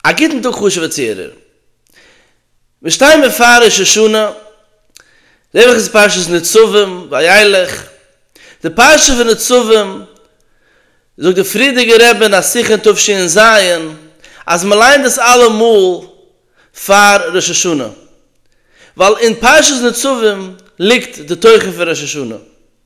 א גוטן טאג חשובע צוהערער. מיר שטייען בעפאר ראש השנה, די וואך איז פרשת נצבים, וילך. די פרשה פון נצבים, זאגט די פריערדיגע רבי אין א שיחה אין תשי ן ז, אז מען ליינט דאס אלעמאל פאר ראש השנה, ווייל אין פרשת נצבים ליגט די תוכן פון ראש השנה.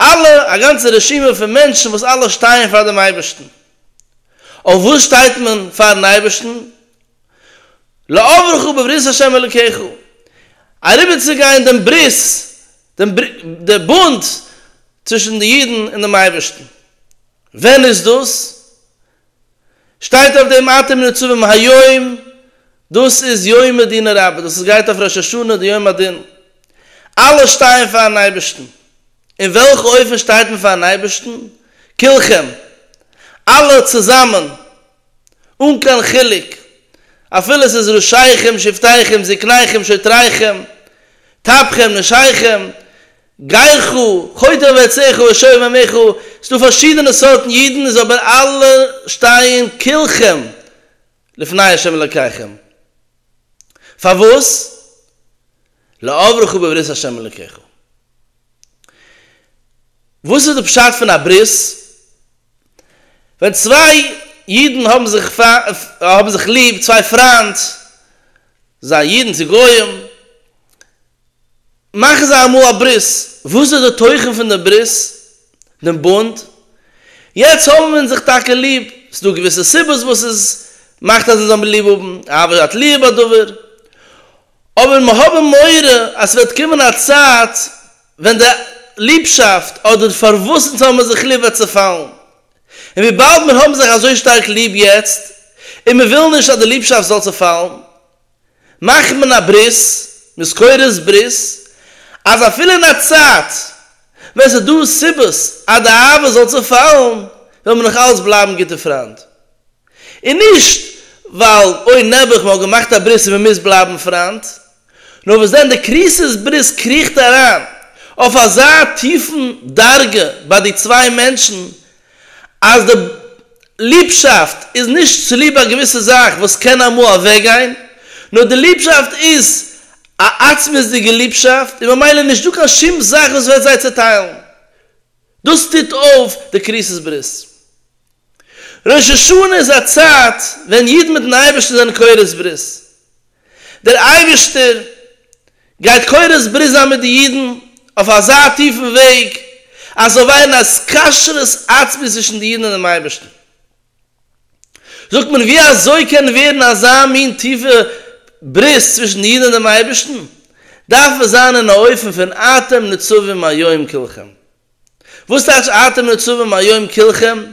אלע, א גאנצע רשימה פון מענטשן וואס אלע שטייען פאר דעם אייבערשטן. אויף וואס שטייט מען פאר'ן אייבערשטן? לעברך בברית השם אלוקיך, אריבערצוגיין דעם ברית, דעם דער בונד צווישן די אידן און דעם אייבערשטן. ווען איז דאס? שטייט אויף דעם אתם ניצבים היום, דאס איז יום הדין הרבה, דאס איז גייט אויף ראש השנה די יום הדין, אלע שטייען פארן אייבערשטן, אין וועלכע אופן שטייט מען פארן אייבערשטן? כולכם, אלע צוזאמען, אן קיין חילוק, אפילו עס איז ראשיכם שבטיכם זקניכם שוטריכם טפכם נשיכם, גייך חוטא ועציך ושוב עמיך, ס'דא פארשידענע סארטן אידן איז אבער אלע שטייען כולכם לפני השם אלקיכם, פארוואס? לעברך בברית השם אלקיך, וואס איז די פשט פון א ברית? ווען צוויי אידן האבן זיך האבן זיך ליב, צוויי פריינט, זיין אידן צו גוים, מאכן זיי אמאל א ברית, וואס איז די תוכן פון די ברית, דעם בונד? יעצט האבן אונז זיך טאקע ליב, ס'איז דא געוויסע סיבות וואס עס מאכט אז אונז זאל מיר ליב האבן, אהבה שעת ליעב הדבר, אבער מיר האבן מורא אז ס'וועט קומען א צייט ווען די ליבשאפט אדער פארוואס אונז האבן מיר זיך ליב וועט צעפאלן, און וויבאלד מיר האבן זיך אזוי שטארק ליב יעצט און מיר ווילן נישט אז די ליבשאפט זאל צעפאלן, מאכט מען א ברית, מזכורת ברית, אז אפילו אין א צייט ווען ס'איז דא סיבות אז די אהבה זאל צעפאלן, וועל מען נאך אלץ בלייבן גוטע פריינד. און נישט ווייל אוי נעבעך מען האט געמאכט א ברית און מען מוז בלייבן פריינד, נאר וואס דען די קריסוס ברית קריכט אריין אויף אזא טיפן דרגה ביי די צוויי מענטשן אז די ליבשאפט איז נישט צוליב א געוויסע זאך וואס קען אמאל אוועקגיין, נאר די ליבשאפט איז א עצמות'דיגע ליבשאפט און ממילא נישט דא קיין שום זאך וואס וועט זיי צעטיילן. דאס טוט אויף די כריתות ברית. ראש השנה איז א צייט ווען אידן מיט'ן אייבערשטן זענען כורת ברית. דער אייבערשטער גייט קורס ברית זיין מיט די אידן אויף אזא טיפן וועג אז ס'זאל ווערן א קשרות עצמית צווישן די אידן און דעם אייבערשטן. זאגט מען, ווי אזוי קען ווערן אזא מין טיפע ברית צווישן די אידן און דעם אייבערשטן? דארף עס זיין אין א אופן פון אתם נצובים היום כלכם. וואס טייטש אתם נצובים היום כלכם?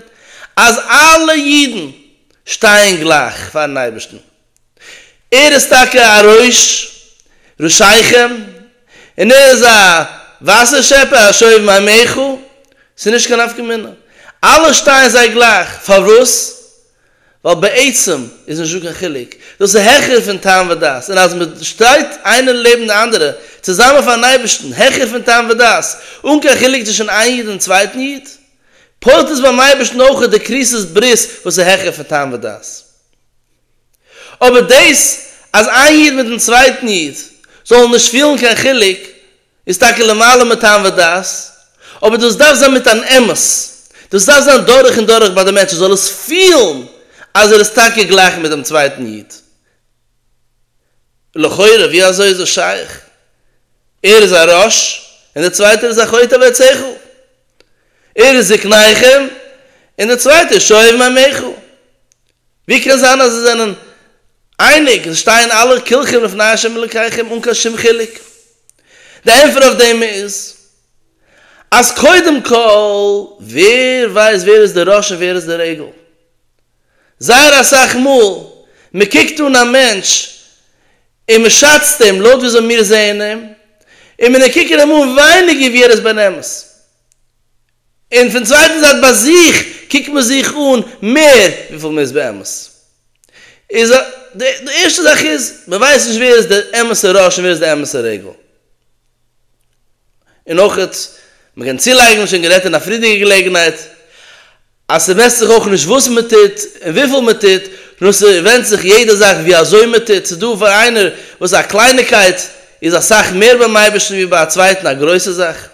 אז אלע אידן שטייען גלייך פאר'ן אייבערשטן, ער איז טאקע א ראש רשעיכם און ער איז א וואסער שעפער א שואב מים מעיכו, ס'איז נישט קיין נפקא מינה, אלע שטייען זיי גלייך, פארוואס? ווייל בעצם איז נישטא קיין חילוק, דאס איז העכער פון טעם ודעת, און אז מען שטייט איינער לעבן די אנדערע צוזאמען פארן אייבערשטן, העכער פון טעם ודעת, אן קיין חילוק צווישן איין איד און צווייטן איד, פועלט עס ביים אייבערשטן אויך די כריתות ברית וואס איז העכער פון טעם ודעת. אבער דאס אז איין איד מיטן צווייטן איד זאלן נישט פילן קיין חילוק איז טאקע למעלה מטעם ודעת, אבער דאס דארף זיין מיט אן אמת, דאס דארף זיין דורך און דורך ביי די מענטש ער זאל עס פילן אז ער איז טאקע גלייך מיט דעם צווייטן איד. לכאורה ווי אזוי איז עס שייך? ער איז א רש און דער צווייטער איז א חוטא ועצךו? ער איז זקניכם און דער צווייטער שואב מימיכו? ווי קען זיין אז זיי זענען אייניג? עס שטייען אלע כולכם לפני השם אלוקיכם אן קיין שום חילוק. די ענטפער אויף דעם איז אז קודם כל ווער ווייסט ווער איז די ראש און ווער איז די רגל? זייער אסאך מאל מען קוקט אן א מענטש און מען שאצט אים לויט ווי אזוי מיר זעען אים און מען קוקען אים אן ווייניגער ווי ער איז באמת. און פון צווייטן זייט ביי זיך קוקט מען זיך אן מער וויפיל מען איז באמת. איז א, די די ערשטע זאך איז, מען ווייסט נישט ווער איז דער אמת'ער ראש און ווער איז דער אמת'ער רגל. און אויך, מען קען צולייגן, שוין גערעדט אין א פריערדיגע געלעגנהייט, אז ס'מעסט זיך אויך נישט וואס מען טוט און וויפיל מען טוט, נאר ס'ווענדט זיך יעדע זאך ווי אזוי מען טוט, ס'איז דא פאר איינער וואס א קלייניקייט איז אסאך מער ביים אייבערשטן ווי ביי א צווייטן א גרויסע זאך.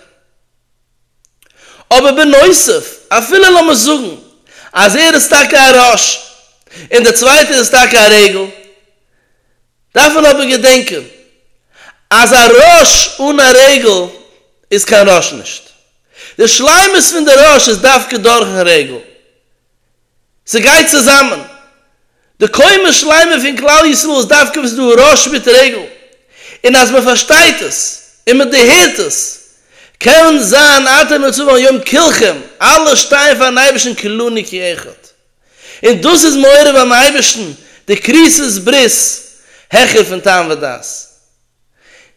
אבער בנוסף, אפילו לאמיר זאגן אז ער איז טאקע א ראש און דער צווייטער איז טאקע א רגל, דארף מען אבער געדענקען אז א ראש אן א רגל איז קיין ראש נישט. די שלימות פון די ראש איז דווקא דורכ'ן רגל, ס'גייט צוזאמען. די קומה שלימה פון כלל ישראל איז דווקא וואס איז דא ראש מיט רגל, און אז מ'פארשטייט עס און מ'דערהערט עס, קען זיין אתה נצור על יום כלכם, אלע שטייען פארן אייבערשטן כולנו כאחד. און דאס איז מעורר ביים אייבערשטן די כריתות ברית העכער פון טעם ודעת.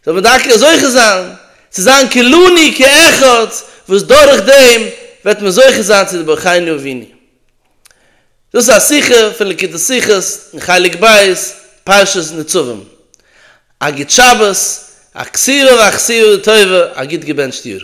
זאל מען דוקא זוכה זיין צו זיין כלני כאחד וואס דורך דעם וועט מען זוכה זיין צו די ברכיינו אבינו. דאס איז א שיחה פון לקוטי שיחות אין חלק ב' פרשת נצבים. א גוט שבת, אכסירא ואכסירא לטובה, א גוט געבענטשט יאר.